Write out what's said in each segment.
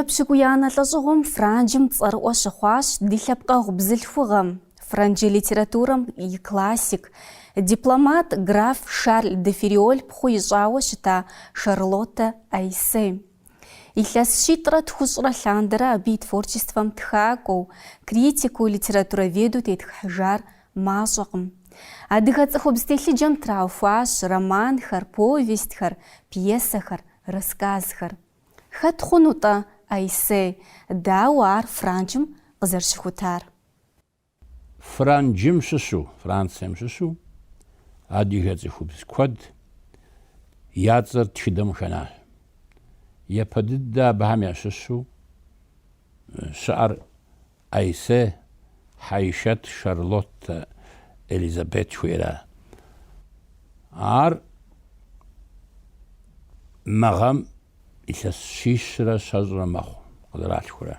Епщыкӏуиянэ лӏэщӏыгъуэм Франджым цӏэрыӏуэ щыхъуащ ди лъэпкъэгъу бзылъхугъэм, франджы литературэм и классик, дипломат граф Шарль де Ферриоль пхъу ищӏауэ щыта Шарлоттэ Айссе. Илъэс щитӏрэ тхущӏрэ лъандэрэ абы и творчествэм тхакӏуэу, критикыу, литературоведу тетхыхьыжар мащӏэкъым. Адыгэ цӏыхубз телъыджэм траухуащ романхэр, повестьхэр, пьесэхэр, рассказхэр. Хэт хъуну-тӏэ Айссе, дауэ ар Франджым къызэрыщыхутар? Франджым щыщу, Францием щыщу адыгэ цӏыхубз куэд я цӏэр тхыдэм хэнащ. Япэ дыдэ абыхэм ящыщу щыӏэр Айссе, Хьэишэт, Шарлоттэ, Элизабет жыхуиӏэра. Ар мы гъэм илъэс щищрэ щэщӏрэ мэхъу, къызэралъхурэ.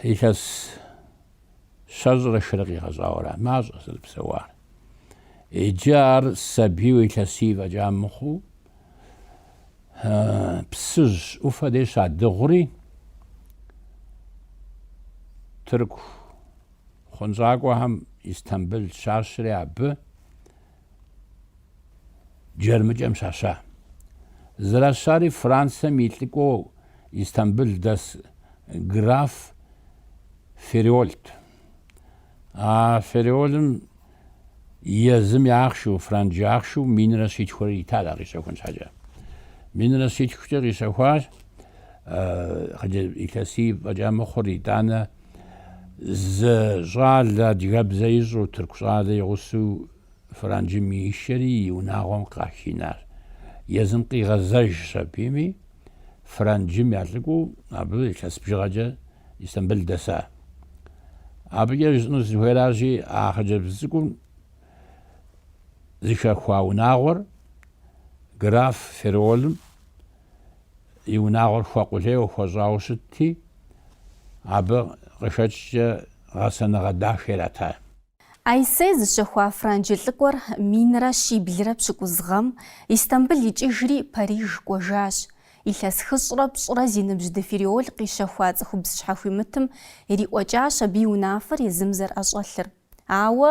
Илъэс щэщӏрэ щырэ къигъэщӏауэ ара. Мащӏэ, зэрыпсэуар. Иджы ар сабийуэ илъэсий фӏэкӏа мыхъуу, Псыжь ӏуфэ дей щадыгъури, тырку хъунщӏакӏуэхэм Истамбыл щащри абы джэрмыкӏэм щаща. Зэращари Францэм и лӏыкӏуэу Истамбыл дэс граф Ферриольт. А Ферриолым езым и ахъшэу, франджы ахъшэу минрэ щитхурэ итат ар къищэхун щхьэкӏэ. Минрэ щитхукӏэ къищэхуащ хъыджэ илъэсий фӏэкӏа мыхъур, итӏанэ зы щӏалэ адыгэбзэ ищӏу, тырку щӏалэ и гъусэу Франджым ишэри и унагъуэм къахинащ. Езым къигъэзэжщ абыми. франджым я лӏыкӏуэу абы илъэс бжыгъэкӏэ Истамбыл дэса. Абыкӏэ жысӏэну сызыхуейращи, а хъыджэбз цӏыкӏум зыхэхуа унагъуэр граф Ферриолым и унагъуэр хуэкъулейуэ хуэщӏауэ щытти, абы къыхэкӏкӏэ гъэсэныгъэ дахэ ирата. Айссе зыщэхуа франджы лӏыкӏуэр минрэ щиблрэ пщыкӏуз гъэм Истамбыл икӏыжри, Париж кӏуэжащ. Илъэс хыщӏрэ пщӏырэ зи ныбжь де Ферриоль къищэхуа цӏыхубз щхьэхуимытым ириӏуэкӏащ абы и унафэр езым зэрыӏэщӏэлъыр. Ауэ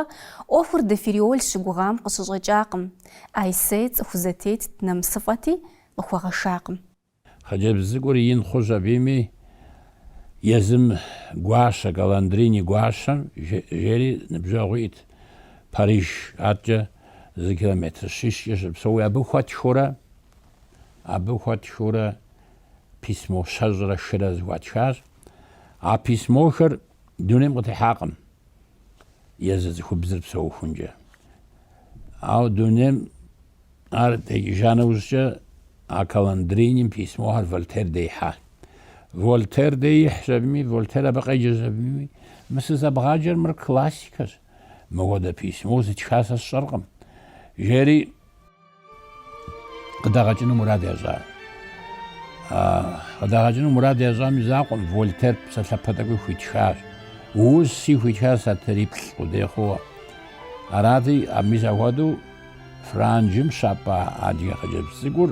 ӏуэхур де Ферриоль щыгугъам къыщыщӏэкӏакъым. Айссе цӏыху зэтетт, нэмысыфӏэти, къыхуэгъэшакъым. Хъыджэбз цӏыкӏур ин хъущ абыми, езым Гуащэ, Каландрини Гуащэм жери ныбжьэгъу иӏэт Париж адкӏэ зы километр щищкӏэ щыпсэуи, абы хуэтхыурэ, абы хуэтхыурэ письмо щэщӏрэ хырэ зэхуатхащ. А письмохэр Дунейм къытехьакъым езы цӏыхубзыр псэухункӏэ. Ауэ дунейм ар текӏыжа нэужькӏэ а Каландриним письмохэр Вольтер дей ихьа. Вольтер дей ихьщ абыми, Вольтер абы къеджэщ абыми. Мы сызэбгъаджэр мыр классикэщ. Мыхуэдэ письмо зытха сэ сщӏэркъым. Жери Къыдагъэкӏыну мурад ящӏа. Къыдагъэкӏыну мурад ящӏам и закъуэм Вольтер псалъэпэ тӏэкӏуи хуитхащ. Уси хуитхащ сатыриплӏ къудей хъууэ. Арати, мис апхуэдэу Франджым щапӏа адыгэ хъыджэбз цӏыкӏур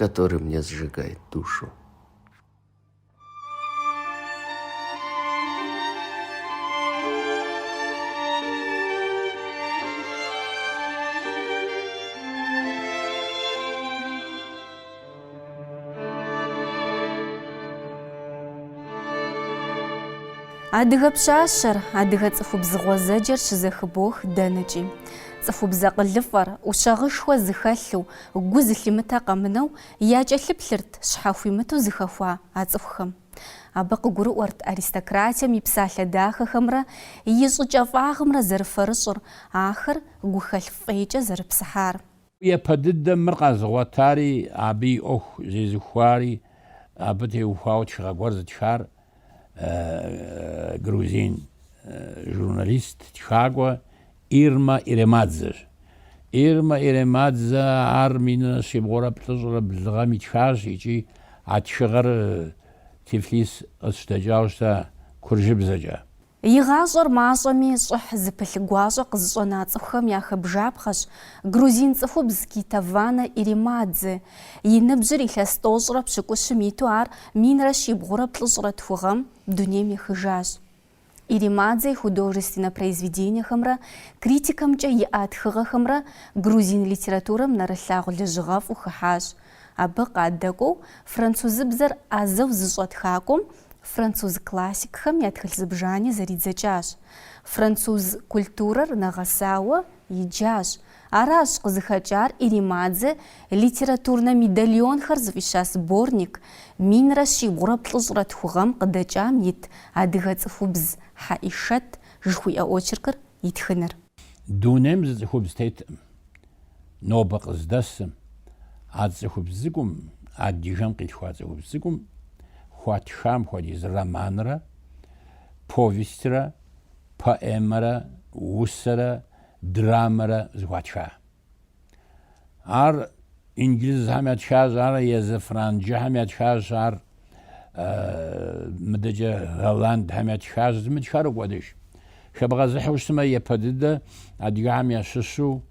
который мне сжигает душу. Адыгэ пщащэр, адыгэ цӏыхубз гъуэзэджэр щызэхыбох дэнэкӏи. Цӏыхубз акъылыфӏэр, ӏущагъышхуэ зыхэлъу, Гу зылъимытэ къэмынэу якӏэлъыплъырт щхьэхуимыту зыхэхуа а цӏыхухэм. Абы къыгурыӏуэрт аристократием и псалъэ дахэхэмрэ и щӏыкӏэфӏагъымрэ зэрыфэрыщӏыр, ахэр гухэлъ фӏейкӏэ зэрыпсыхьар. Япэ дыдэм мыр къэзыгъуэтари, абы и ӏуэху зезыхуари, абы теухуауэ тхыгъэ гуэр зытхар грузин журналист тхакӏуэ Ирма Иремадзэщ. Ирма Иремадзэ ар минрэ щибгъурэ плӏыщӏрэ блы гъэм итхащ икӏи а тхыгъэр Тифлис къыщыдэкӏауэ щыта куржыбзэкӏэ. И гъащӏэр мащӏэми щӏыхь зыпылъ гуащӏэ къызыщӏэна цӏыхухэм яхэбжапхъэщ грузин цӏыхубз Кетеванэ Иремадзе. И ныбжьыр илъэс тӏощӏрэ пщыкӏущым иту ар минрэ щибгъурэ плӏыщӏрэ тху гъэм дунейм ехыжащ. Иремадзе и художественнэ произведениехэмрэ критикэмкӏэ иӏа тхыгъэхэмрэ грузин литературэм нэрылъагъу лэжьыгъэфӏу хыхьащ, Абы къадэкӏуэу французыбзэр ӏэзэу зыщӏэ тхакӏуэм француз классикхэм я тхылъ зыбжани зэридзэкӏащ. Француз культурэр нэгъэсауэ иджащ. Аращ къызыхэкӏар Иремадзе литературнэ медальонхэр зыфӏища сборник минрэ щибгъурэ плӏыщӏрэ тху гъэм къыдэкӏам ит Адыгэ цӏыхубз Хьэӏишэт жыхуиӏэ очеркыр итхыныр. Дунейм зы цӏыхубз теткъым. нобэ къыздэсым, а цӏыхубз цӏыкӏум, адыгэм къилъхуа цӏыхубз цӏыкӏум хуатхам хуэдиз романрэ повестьрэ, поэмэрэ, усэрэ, драмэрэ зыхуатха. Ар инджылызхэм ятхащ, ар езы франджыхэм ятхащ, ар мыдэкӏэ голландхэм ятхащ, зымытхар укӏуэдыж. Хэбгъэзыхьу щытмэ епэ дыдэ адыгэхэм ящыщу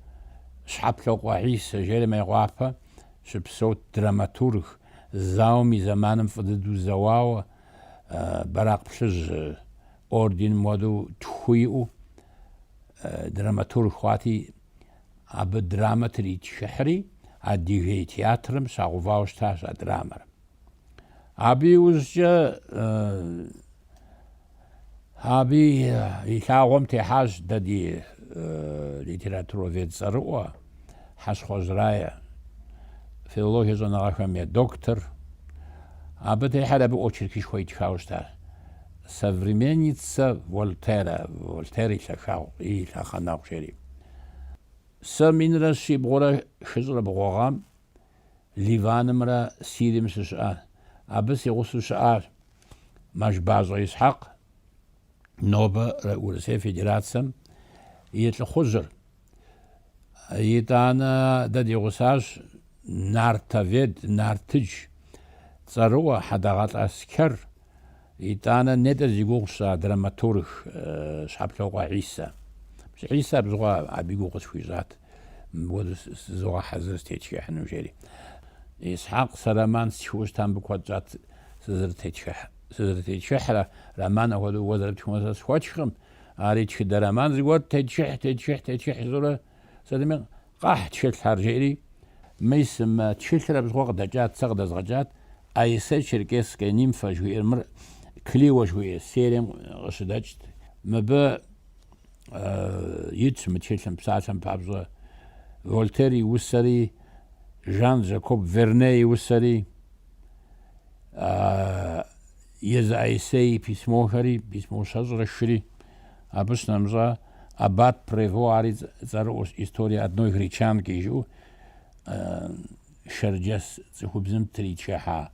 Щхьэплъокъуэ Хьисэ жери Мейкъуапэ щыпсэут драматург, зауэм и зэманым фӏы дыдэу зэуауэ, Бэракъ Плъыжь орденым хуэдэу тху иӏэу драматург хъуати, абы драмэ тритхыхьри, Адыгей театрым щагъэувауэ щытащ а драмэр. Абы иужькӏэ абы и лъагъуэм техьащ дэ ди литературовед цӏэрыӏуэ Хьэщхъуэжь Рае, филологие щӏэныгъэхэм я доктор. Абы техьэр абы очеркышхуэ итхауэ щыта Современница Вольтера, Вольтер и лъэхагъ, и лъэхъэнэгъу жери. Сэ минрэ щибгъурэ хыщӏрэ бгъуэ гъэм Ливанымрэ Сирием сыщыӏащ. Абы си гъусэу щыӏащ Мэшбащӏэ Исхьэкъ, нобэ Урысей Федерацэм и лӏыхъужьыр. Итӏанэ дэ ди гъусащ нартовед, нартыдж цӏэрыӏуэ Хьэдэгъэлӏ Аскэр, Итӏанэ нетӏэ зи гугъу сщӏа драматург Щхьэплъокъуэ Хьисэ. Пщы Хьисэ абы щыгъуэ абы и гугъу къысхуищӏат, мыпхуэдэу зызогъэхьэзыр сытетхыхьыну, жери. Исхьэкъ сэ роман стхыу щытам абы куэд щӏат сызэрытетхыхьрэ, роман апхуэдэу уэ зэрыптхыу сэ схуэтхкъым. Ари тхыдэ роман зыгуэр тетхыхь, тетхыхь, тетхыхь жысӏэурэ сытми Къэхь тхылъхэр! жери, мис мы тхылъыр абы щыгъуэ къыдэкӏат, сэ къыдэзгъэкӏат, Аиссе Черкесская нимфа жыхуиӏэр, мыр Клио жыхуиӏэ серием къыщыдэкӏат, мыбы итщ мы тхылъым, псалъэм папщӏэ, Вольтер и усэри, Жан-Жакоб Верне и усэри. Езы Аиссе и письмохэри, письмо щэщӏрэ хыри, абы щынэмыщӏа аббат Прево ари цӏэрыӏуэщ История одной гречанки жиӏэу шэрджэс цӏыхубзым тритхыхьа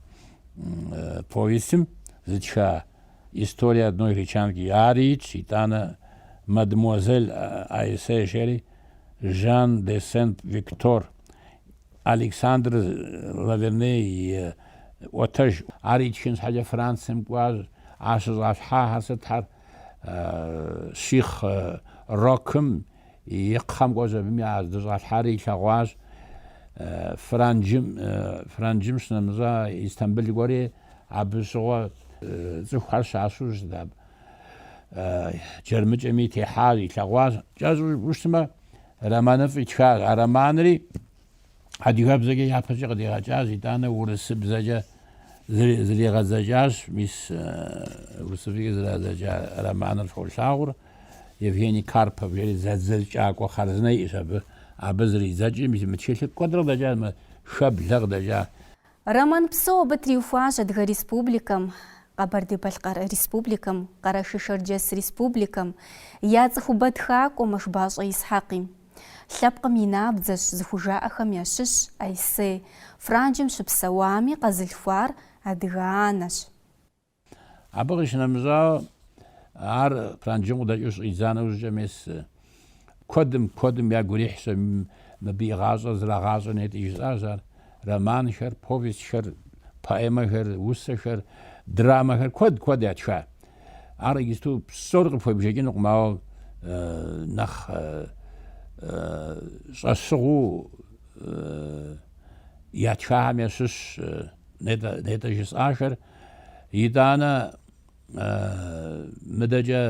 повестым зытха История одной гречанки ари итщ, итӏанэ мадемуазель Аиссе жери Жан де Сент-Виктор Александр Лаверн и ӏуэтэжщ. Ар итхын щхьэкӏэ Францием кӏуащ. Ар щыщӏалъхьахэр сытхэр щихъ Рокым и кхъэм кӏуэщ. Абы здыщӏалъхьар илъэгъуащ. Франджым, Франджым щынэмыщӏа, Истамбыл кӏуэри абы щыгъуэ цӏыхухэр щащэу щытт абы. Джэрмыкӏэми техьащ, илъэгъуащ. Кӏэщӏу жыпӏэу щытмэ, Романыфӏ итхащ. А романри адыгэбзэкӏэ япэкӏэ къыдигъэкӏащ, итӏанэ урысыбзэкӏэ зригъэдзэкӏащ. Мис урысыбзэкӏэ зригъэдзэкӏа романыр фолъагъур Евгений Карпов жери зэдзэкӏакӏуэ хъарзынэ иӏэщ абы. Абы зридзэкӏри, мис мы тхылъыр куэдрэ къыдэкӏащ, мы Шэблэ къыдэкӏащ. Роман псо абы триухуащ Адыгэ Республикэм, Къэбэрдей-Балъкъэр Республикэм, Къэрэшей-Шэрджэс Республикэм я цӏыхубэ тхакӏуэ Мэшбащӏэ Исхьэкъи. Лъэпкъым и набдзэщ зыхужаӏэхэм ящыщ Аиссе. Франджым щыпсэуами къэзылъхуар адыгэ анэщ. Абы къищынэмыщӏауэ, ар Пранджым къыдэкӏыу щӏидза нэужькӏэ мес куэдым, куэдым ягу ирихьщ мыбы и гъащӏэр зрагъащӏэ нетӏи жысӏащ ар. Романхэр, повестьхэр, поэмэхэр, усэхэр, драмэхэр куэд, куэд ятха. Ар иджысту псори къыпхуебжэкӏынукъым, ауэ нэхъ щӏэщыгъуу ятхахэм ящыщщ нетӏэ, нетӏэ жысӏахэр. Итӏанэ, мыдэкӏэ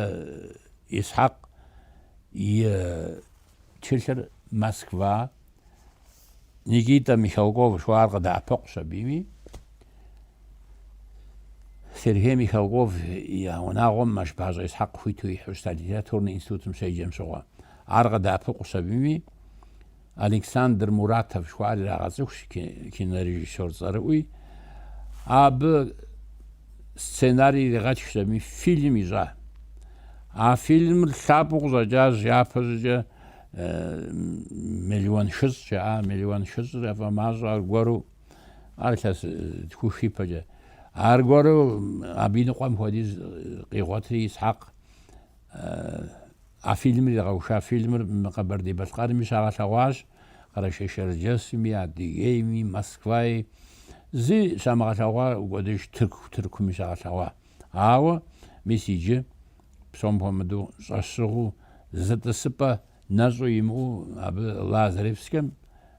Исхьэкъ и тхылъыр Москва, Никитэ Михалков жыхуаӏэр къыдэӏэпыкъущ абыми. Сергей Михалков и унагъуэм Мэшбащӏэ Исхьэкъ хуиту ихьэу щыта литературнэ институтым щеджэм щыгъуэ. Ар къыдэӏэпыкъущ абыми. Александр Муратов жыхуаӏэр ирагъэцӏыхущ кинорежиссёр цӏэрыӏуи. Абы сценарий иригъэтхщ абы фильм ищӏа. А фильмыр лъапӏэу къыщӏэкӏащ япэщӏыкӏэ миллион хыщӏ жаӏа, миллион хыщӏыр яфӏэмащӏэ аргуэру, ар илъэс тхух ипэкӏэ. Аргуэру абы и ныкъуэм хуэдиз къигъуэтри Исхьэкъ А фильмыр игъэуха фильмыр мы Къэбэрдей-Балъкъэрми щагъэлъэгъуащ, Къэрэшей-Шэрджэсми, Адыгейми, Москваи. Зыщамыгъэлъэгъуа укӏуэдыж Тырку Тыркуми щагъэлъэгъуа. Ауэ мис иджы, псом хуэмыдэу, щӏэщыгъуу, зы тӏысыпӏэ нэщӏу имыӏэу абы Лазаревскэм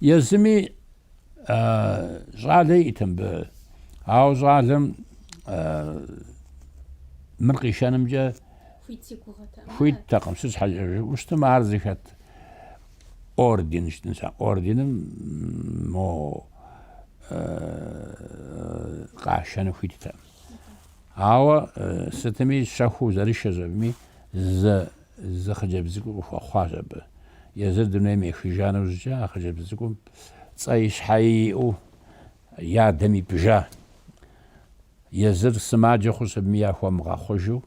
Езыми щӏалэ иӏэт мыбы. Ауэ щӏалэм мыр къишэнымкӏэ хуиттэкъым. Сыт щхьэкӏэ жыпӏэу щытым ар зыхэт орден щытын ща. Орденым мо къашэну хуиттэкъым. Ауэ сытми щэхуу зэрышэщ абыми зы Зы хъыджэбз цӏыкӏу къыхуэхъуащ абы. Езыр дунейм ехыжа нэужькӏэ а хъыджэбз цӏыкӏум цӏэи щхьэи иӏэу и адэм ипӏыжа. Езыр сымаджэ хъущ абыми яхуэмыгъэхъужу,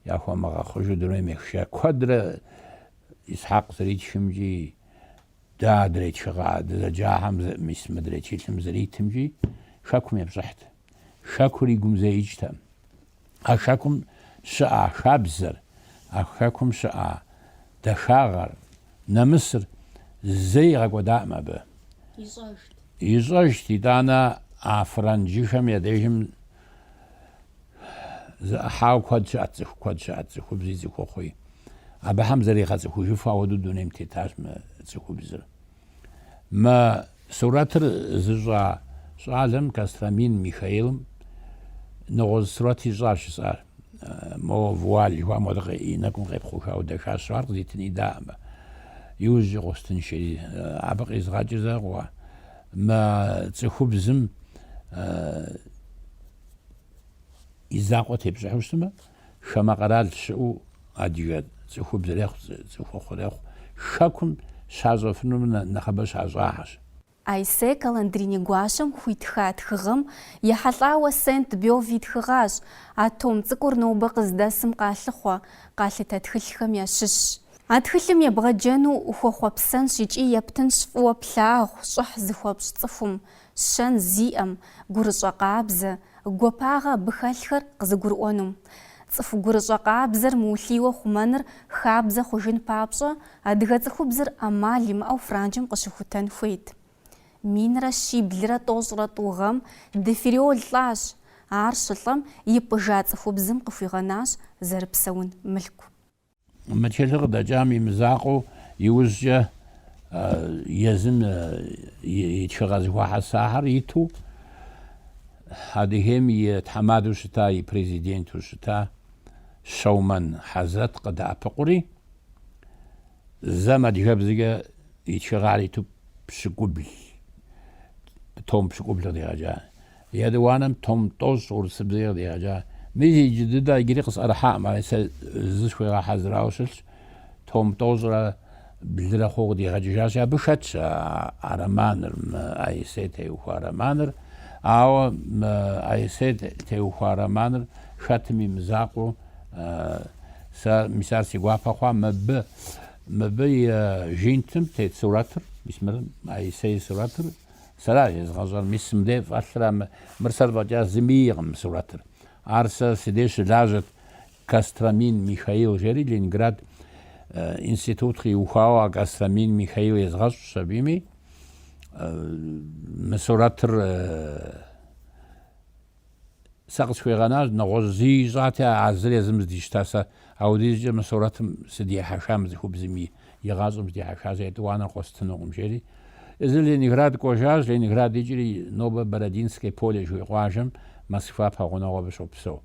яхуэмыгъэхъужу дунейм ехыжа. Куэдрэ Исхьэкъ зэритхымкӏи, дэ адрей тхыгъэ дызэджахэм мис мыдрей тхылъым зэритымкӏи хэкум епщӏыхьт. Хэкур и гум зэи икӏтэкъым. А хэкум щыӏа хабзэр, а хэкум щыӏа дахагъэр, нэмысыр зэи игъэкӏуэдаӏым абы. Ищӏэжт. Ищӏэжт, итӏанэ а франджыхэм я дежым зы ӏыхьауэ куэд щыӏэт, цӏыху куэд щыӏэт, цӏыхубзи цӏыхухъуи. Абыхэм зэригъэцӏыхужыфу ахуэдэу дунейм тетащ мы цӏыхубзыр. Мы сурэтыр зыщӏа щӏалэм, Костромин Михаилым, нэгъуэщӏ сурэт ищӏащ жысӏар. Мо вуаль жыхуаӏэм хуэдэу и нэкӏум къепхъухауэ дахащэщ, ар къызитыни даӏэмэ, иужькӏэ къыуэстынщ ари. Абы къизгъэкӏыр закъуэ мы цӏыхубзым и закъуэ тепщӏыхьу щытмэ, Хамэ къэрал щыӏэу адыгэ цӏыхубзрехъу, цӏыхухъурехъу хэкум щащӏэфынур нэхъыбэ щащӏахэщ. Айссе Каландрини гуащэм хуитха тхыгъэм ехьэлӏауэ Сент Бёв итхыгъащ, а том цӏыкӏур нобэ къыздэсым къалъыхъуэ, къалъытэ тхылъхэм ящыщщ. А тхылъым ебгъэджэну ухуэхъуэпсэнщ икӏи ептынщ фӏыуэ плъагъу, щӏыхь зыхуэпщӏ цӏыхум, Щэн зиӏэм, гурыщӏэ къабзэ, гуапагъэ абы хэлъхэр къызыгурыӏуэнум. Цӏыху гурыщӏэ къабзэр мыулъийуэ хъумэныр хабзэ хъужын папщӏэ, адыгэ цӏыхубзыр ӏэмал имыӏэу Франджым къыщыхутэн хуейт. Минрэ щиблрэ тӏощӏрэ тӏу гъэм де Фериол лӏащ, ар щылӏэм ипӏыжа цӏыхубзым къыхуигъэнащ зэрыпсэун мылъку. Мы тхылъыр къыдэкӏам и мызакъуэу иужькӏэ езым и тхыгъэ зэхуэхьэсахэр иту Адыгейм и тхьэмадэу щыта, и президенту щыта Щэумэн Хьэзрэт къыдэӏэпыкъури, зэм адыгэбзэкӏэ и тхыгъэр иту пщыкӏубл, том пщыкӏубл къыдигъэкӏа. Етӏуанэм Том тӏощӏ урысыбзэкӏэ къыдигъэкӏа. Мис иджы дыдэ иджыри къысӏэрыхьакъым, ари сэ зы схуигъэхьэзырауэ щылъщ. Том тӏощӏрэ блырэ хъууэ къыдигъэкӏыжащи, абы хэтщ а романыр, мы Аисей теухуа романыр. Ауэ мы Аисей теухуа романыр хэтым и мызакъуэу сэ, мис ар си гуапэ хъуа, мыбы, мыбы и жинтым тет сурэтыр, мис мыр Аисей и сурэтыр, Сэращ езыгъэщӏар, мис мыдей фӏэлъыра, мы, мыр сэр фӏэкӏа зыми иӏэкъым мы сурэтыр. Ар сэ си деж щылажьэт Костромин Михаил жери Ленинград институт къиухауэ а Костромин Михаил езгъэщӏщ абыми мы сурэтыр. Сэ къысхуигъэнащ, нэгъуэщӏ зы ищӏати, а зыр езым здищта. Сэ апхуэдизкӏэ мы сурэтым сыдихьэха мы цӏыхубзым и гъащӏэм сыдихьэха сэ етӏуанэр къостынукъым, жери. Езыр Ленинград кӏуэжащ, Ленинград икӏри нобэ Бородинское поле жыхуиӏэ къуажэм, Москва пэгъунэгъу абы щопсэу.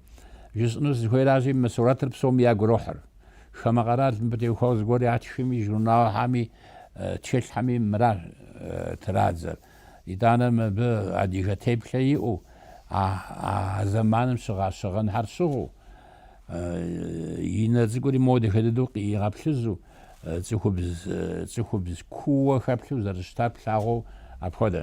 Жысӏэну сызыхуейращи, мы сурэтыр псоми ягу ирохьыр. Хамэ къэрал мыбы теухуа зыгуэр ятхми, журналхэми, тхылъхэми мыращ традзэр. Итӏанэ мыбы адыгэ теплъэ иӏэу, а зэманым щыгъа щыгъынхэр щыгъыу, и нэ цӏыкӏури мо дахэ дыдэу къигъэплъызу, цӏыхубз кууэ хэплъу зэрыщытар плъагъуу апхуэдэ.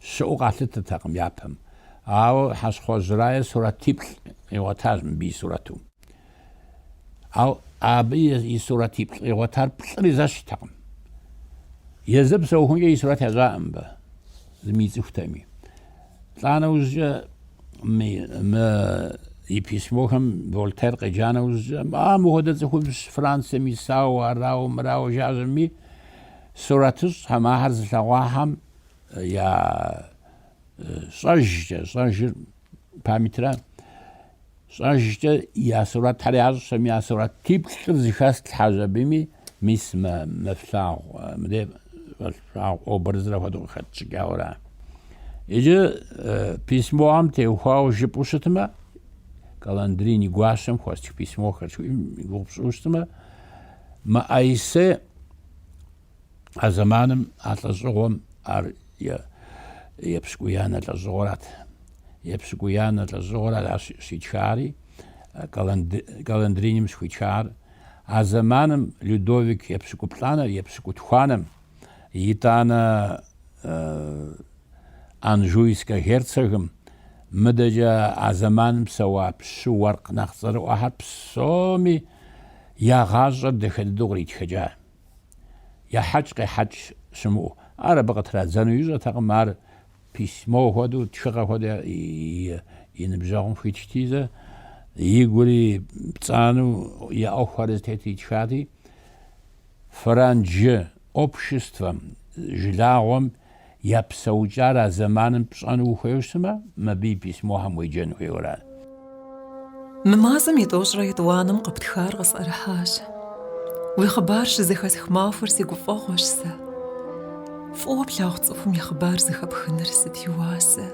щыӏэу къалъытэртэкъым япэм. Ауэ Хьэщхъуэжь Рае сурэтиплӏ къигъуэтащ мыбы и сурэту. Ауэ абы и сурэтиплӏ къигъуэтар плӏыри зэщхьтэкъым. Езыр псэухункӏэ и сурэт ящӏаӏым мыбы, зыми ицӏыхутэми. Лӏа нэужькӏэ мы и письмохэм Вольтер къеджа нэужькӏэ, а мыхуэдэ цӏыхубз Францием исауэ, арауэ, мырауэ жаӏэми, сурэтыщӏхэм ахэр зылъэгъуахэм Я щӏэжкӏэ, щӏэжыр памятыра, щӏэжкӏэ я сурэтхэр ящӏэм я сурэтиплӏыр зэхэтлъхьэжщ абыми мис мы флъагъу, мыдей фӏэлъу флъагъу образыр апхуэдэу къыхэтщӏыкӏауэра. Иджы письмохэм теухуауэ жыпӏэу щытмэ, Каландрини гуащэм хуэстх письмохэр жыхуиӏэм и гугъу пщӏыу щытмэ, мы Аисе А зэманым а лӏэщӏыгъуэм ар епщыкӏуиянэ лӏэщӏыгъуэрат. Епщыкӏуиянэ лӏэщӏыгъуэр аращ щитхари, Каландриним щыхуитхар. А зэманым Людовик епщыкӏуплӏанэр епщыкӏутхуанэм, итӏанэ Анжуйскэ герцогым, мыдэкӏэ а зэманым псэуа пщы уэркъ нэхъ цӏэрыӏуэхэр псоми я гъащӏэр дахэ дыдэу къритхэкӏа. ехьэкӏ-къехьэкӏ щымыӏэу. Ар абы къытрадзэну ищӏэртэкъым, ар письмо хуэдэу, тхыгъэ хуэдэу и ныбжьэгъум хуитхти зэ, и гури пцӏанэу я ӏуэхухэр зытету итхати, франджы обществэм, жылагъуэм Я псэукӏар а зэманым пщӏэну ухуейуэ щытмэ, мыбы и письмохэм уеджэн хуейуэ ара. Мы мазэм итӏощӏрэ етӏуанэм къыптхар къысӏэрыхьащ. Уи хъыбар щызэхэсх махуэр си гуфӏэгъуэщ сэ. Фӏыуэ плъагъу цӏыхум и хъыбар зэхэпхыныр сыт и уасэ!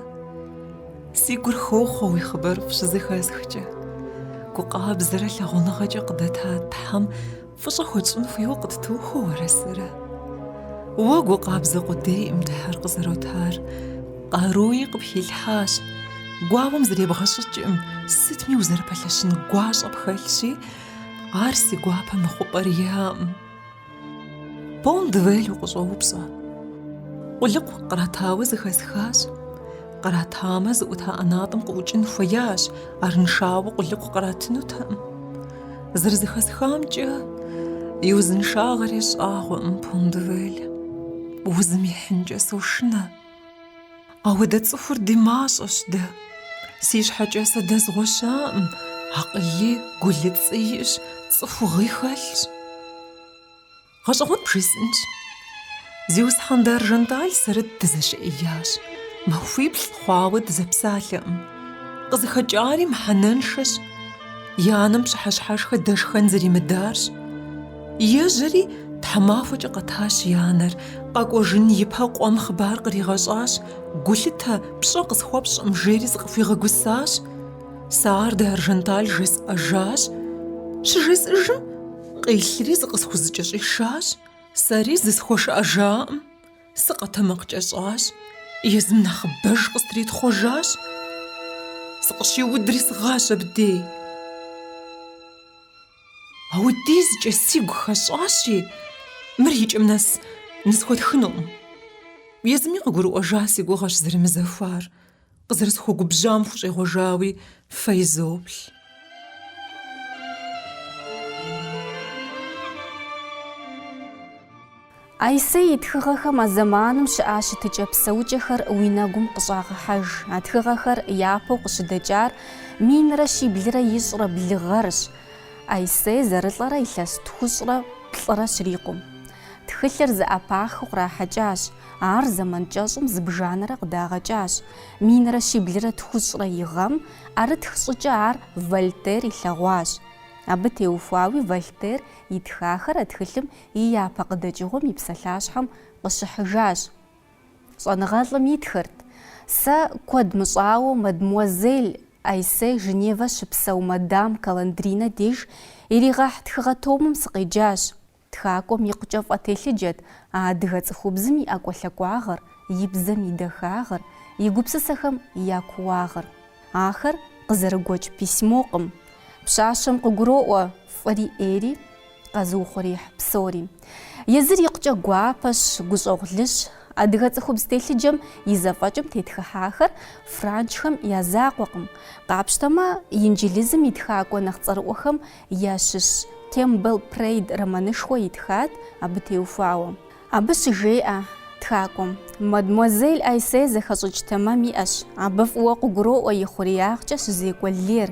Си гур хохъуэ уи хъыбарыфӏ щызэхэсхкӏэ. Гукъабзэрэ лъагъуныгъэкӏэ къыдэта Тхьэм Фӏыщӏэ хуэтщӏын хуейуэ къыттохуэ уэрэ сэрэ. Уэ гу къабзэ къудейкъым Тхьэр къызэротар. Къаруи къыпхилъхьащ. Гуауэм зребгъэщӏыкӏкъым, сытми узэрыпэлъэщын гуащӏэ пхэлъщи, ар си гуапэ мыхъупӏэр иӏэкъым. Пон-де-Вель укъыщӏоупщӏэ. Къулыкъу къратауэ зэхэсхащ. Къратамэ, зыӏута ӏэнатӏэм къыӏукӏын хуеящ, арыншауэ къулыкъу къратынутэкъым. Зэрызэхэсхамкӏэ, и узыншагъэр ещӏагъуэкъым Пон-де-Вель. Узым ихьынкӏэ сошынэ. Апхуэдэ цӏыхур ди мащӏэщ дэ. Си щхьэкӏэ сэ дэзгъуэ щыӏэкъым, акъыли, гулыцӏи иӏэщ, цӏыхугъи хэлъщ. Гъэщӏэгъуэн бжесӏэнщ. Зиусхьэн д'Аржанталь сэрэ дызэщыӏеящ. Махуиплӏ хъуауэ дызэпсалъэкъым. Къызыхэкӏари мыхьэнэншэщ. И анэм пщыхьэщхьэшхэ дэшхэн зэримыдарщ. Ежьэри, тхьэмахуэкӏэ къэтащ и анэр, къэкӏуэжын ипэ къуэм хъыбар къригъэщӏащ, Гулъытэ, пщӏэ къысхуэпщӏкъым, жери зыкъыхуигъэгусащ. Сэ ар д'Аржанталь жесӏэжащ. Щыжесӏыжым, Къилъри зыкъысхузэкӏэщӏишащ, сэри зысхуэшыӏэжакъым, сыкъэтэмакъкӏэщӏащ, езым нэхъыбэж къыстритхъуэжащ, сыкъыщиудри сыгъащ абдей. Апхуэдизкӏэ сигу хэщӏащи, мыр икӏэм нэс нысхуэтхынукъым. Езыми къыгурыӏуэжа си гугъэщ зэрымызахуэр. Къызэрысхуэгубжьам хущӏегъуэжауи фэ изоплъ. Айсей и тхыгъэхэм а зэманым щыӏа щытыкӏэ-псэукӏэхэр уи нэгум къыщӏагъэхьэж. А тхыгъэхэр япэу къыщыдэкӏар минрэ щиблрэ ищӏрэ блы гъэрщ. Айсей зэрылӏэрэ илъэс тхущӏрэ плӏырэ щрикъум. Тхылъыр зэӏэпахыу кърахьэкӏащ, ар зэман кӏэщӏым зыбжанэрэ къыдагъэкӏащ. Минрэ щиблрэ тхущӏрэ и гъэм, ӏэрытх щӏыкӏэ ар Вольтер илъэгъуащ. Абы теухуауи Вольтер итхахэр а тхылъым и япэ къыдэкӏыгъуэм и псалъащхьэм къыщыхьыжащ. Щӏэныгъэлӏым итхырт, Сэ куэд мыщӏауэ мадмуазель Айссе Женевэ щыпсэу мадам Каландринэ деж иригъэхь тхыгъэ томым сыкъеджащ. Тхакӏуэм икъукӏэ фӏэтелъыджэт а адыгэ цӏыхубзым и ӏэкӏуэлъэкӏуагъыр, и бзэм и дахагъыр, и гупсысэхэм я кууагъыр. Ахэр къызэрыгуэкӏ письмокъым. Пщащэм къыгуроӏуэ фӏыри ӏейри, къэзыухъуреихь псори. Езыр икъукӏэ гуапэщ, гущӏэгъулыщ. Адыгэ цӏыхубз телъыджэм и зэфӏэкӏым тетхыхьахэр франджхэм я закъуэкъым. Къапщтэмэ, инджылызым и тхакӏуэ нэхъ цӏэрыӏуэхэм ящыщ Кэмпбелл Прейд романышхуэ итхат абы теухуауэ. Абы щыжеӏэ тхакӏуэм, мадмуазель Айсей зэхэщӏыкӏ тэмэм иӏэщ, абы фӏыуэ къыгуроӏуэ и хъуреягъкӏэ щызекӏуэ лейр,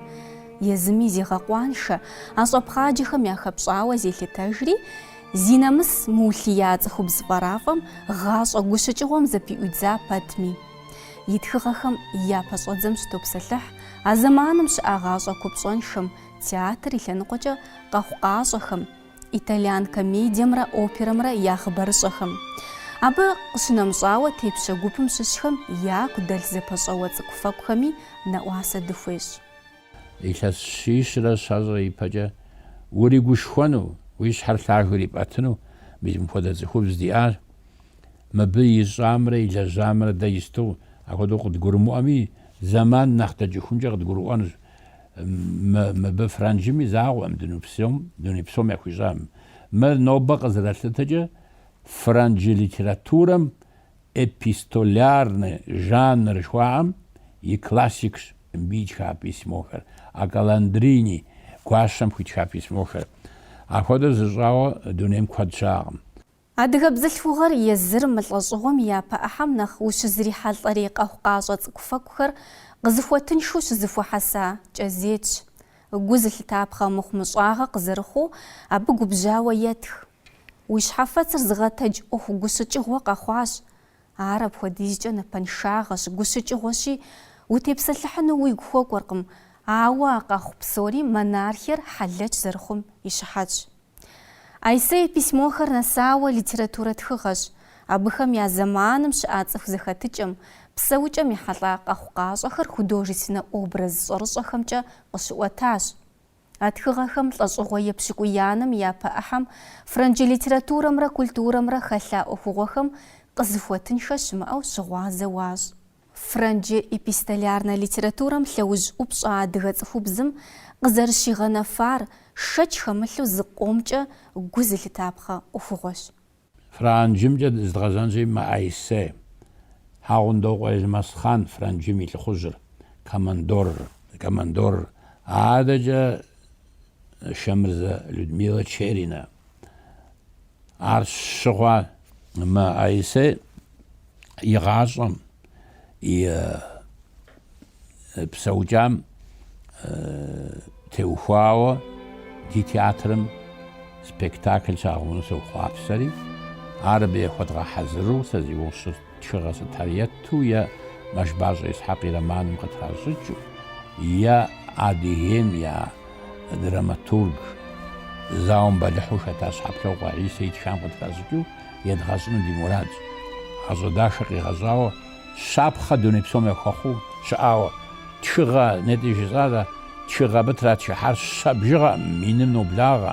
езыми зегъэкъуаншэ, а щӏэпхъаджэхэм яхэпщӏауэ зелъытэжри, зи нэмыс мыулъия цӏыхубз пӏэрафӏэм гъащӏэ гущыкӏыгъуэм зыпыӏуидза пэтми. И тхыгъэхэм я пэщӏэдзэм щытопсэлъыхь а зэманым щыӏа гъащӏэ купщӏэншэм, Театр и лъэныкъуэкӏэ къэхъукъащӏэхэм, итальян комедиемрэ оперэмрэ я хъыбарыщӏэхэм. Абы къыщынэмыщӏауэ, тепщэ гупым щыщхэм яку дэлъ зэпэщӏэуэ цӏыкӏуфэкӏухэми нэӏуасэ дыхуещӏ. Илъэс щищрэ щэщӏрэ ипэкӏэ уригушхуэну, уи щхьэр лъагэу ирипӏэтыну мис мыпхуэдэ цӏыхубз диӏащ. Мыбы ищӏамрэ илэжьамрэ дэ исту апхуэдэу къыдгурымыӏуэми, зэман нэхъ дэкӏыхункӏэ къыдгурыӏуэнущ. Мы, мыбы франджым и закъуэкъым, дуней псом, дуней псом яхуищӏам. Мыр нобэ къызэралъытэкӏэ франджы литературэм эпистолярнэ жанр жыхуаӏэм и классикщ мыбы итха письмохэр, а Каландрини гуащэм хуитха письмохэр. Ахуэдэу зыщӏауэ дунейм куэд щыӏэкъым. Адыгэ бзылъхугъэр езыр мы лӏэщӏыгъуэм и япэ ӏыхьэм нэхъ ущызрихьэлӏэрей къэхъукъащӏэ цӏыкӏуфэкӏухэр къызыхуэтыншэу щызыхуэхьэса кӏэзетщ. Гу зылъытапхъэ мыхъумыщӏагъэ къызэрыхъуу абы губжьауэ етх. Уи щхьэфэцыр зыгъэтэдж ӏуэху гущыкӏыгъуэ къэхъуащ. Ар апхуэдизкӏэ напэншагъэщ, гущыкӏыгъуэщи, утепсэлъыхьыну уигу хуэкӏуэркъым, ауэ а къэхъу псори монархиер хьэлэч зэрыхъум и щыхьэтщ. Аиссе и письмохэр нэсауэ литературэ тхыгъэщ, абыхэм я зэманым щыӏа цӏыху зэхэтыкӏэм, псэукӏэм ехьэлӏа къэхъукъащӏэхэр художественнэ образ щӏэрыщӏэхэмкӏэ къыщыӏуэтащ. А тхыгъэхэм лӏэщӏыгъуэ епщыкӏуиянэм япэ ӏыхьэм фрэнджы литературэмрэ культурэмрэ хэлъа ӏуэхугъуэхэм къызыхуэтынхэ щымыӏэу щыгъуазэ уащӏ. Фрэнджы эпистолярнэ литературэм лъэужь ӏупщӏ адыгэ цӏыхубзым къызэрыщигъэнэфар шэч хэмылъу зыкъомкӏэ гу зылъытапхъэ ӏуэхугъуэщ. Франджымкӏэ зыдгъэзэнщи, мы Аиссе Хьэгъундокъуэ Елмэсхъан Франджым и лӏыхъужьыр, командорыр, командорыр, адэкӏэ Шэмырзэ Людмилэ Черинэ, Ар щыгъуэ мы Аиссе и гъащӏэм и псэукӏам теухуауэ ди театрым спектакль щагъэуну сохъуапсэри, ар абы яхуэдгъэхьэзыру сэ зи ущырт. Тхыгъэ сытар ету е Мэшбащӏэ Исхьэкъ и романым къытращӏыкӏыу, е Адыгейм я драматург, зауэм бэлыхьу хэта Щхьэплъокъуэ Хьисэ итхам къытращӏыкӏыу едгъэщӏыну ди мурадщ. Гъащӏэ дахэ къигъэщӏауэ, щапхъэ дуней псом яхуэхъуу щыӏауэ тхыгъэ, нетӏи жысӏарэ, тхыгъэ абы тратхыхьар щэ бжыгъэкъым, миным ноблагъэ.